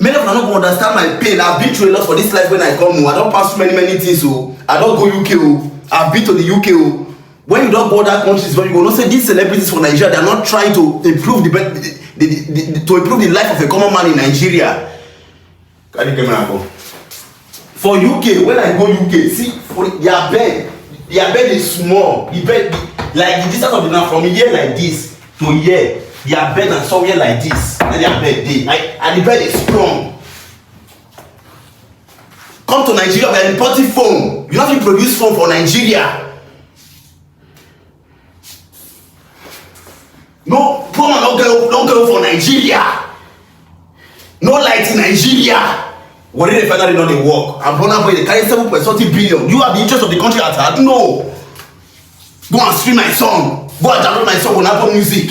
many of una no go understand my pain i been through a lot for this life when i come o i don pass many many things o i don go uk o i been to the uk o when you don go other countries well you go know say these celebrities for nigeria they are not trying to improve the, the, the, the, the to improve the life of a common man in nigeria carry camera go. for uk when i go uk see for their bed their bed is small the bed like the distance of the land from here like this to here their bed na somewhere like this na their bed dey like and the bed is strong come to nigeria we are importing phone you no fit produce phone for nigeria no poor man don get don get for nigeria no light in nigeria warri refinery no dey work and burna boy dey carry seven point something billion you are the interest of the country at heart no go and stream my song go and download my song on apple music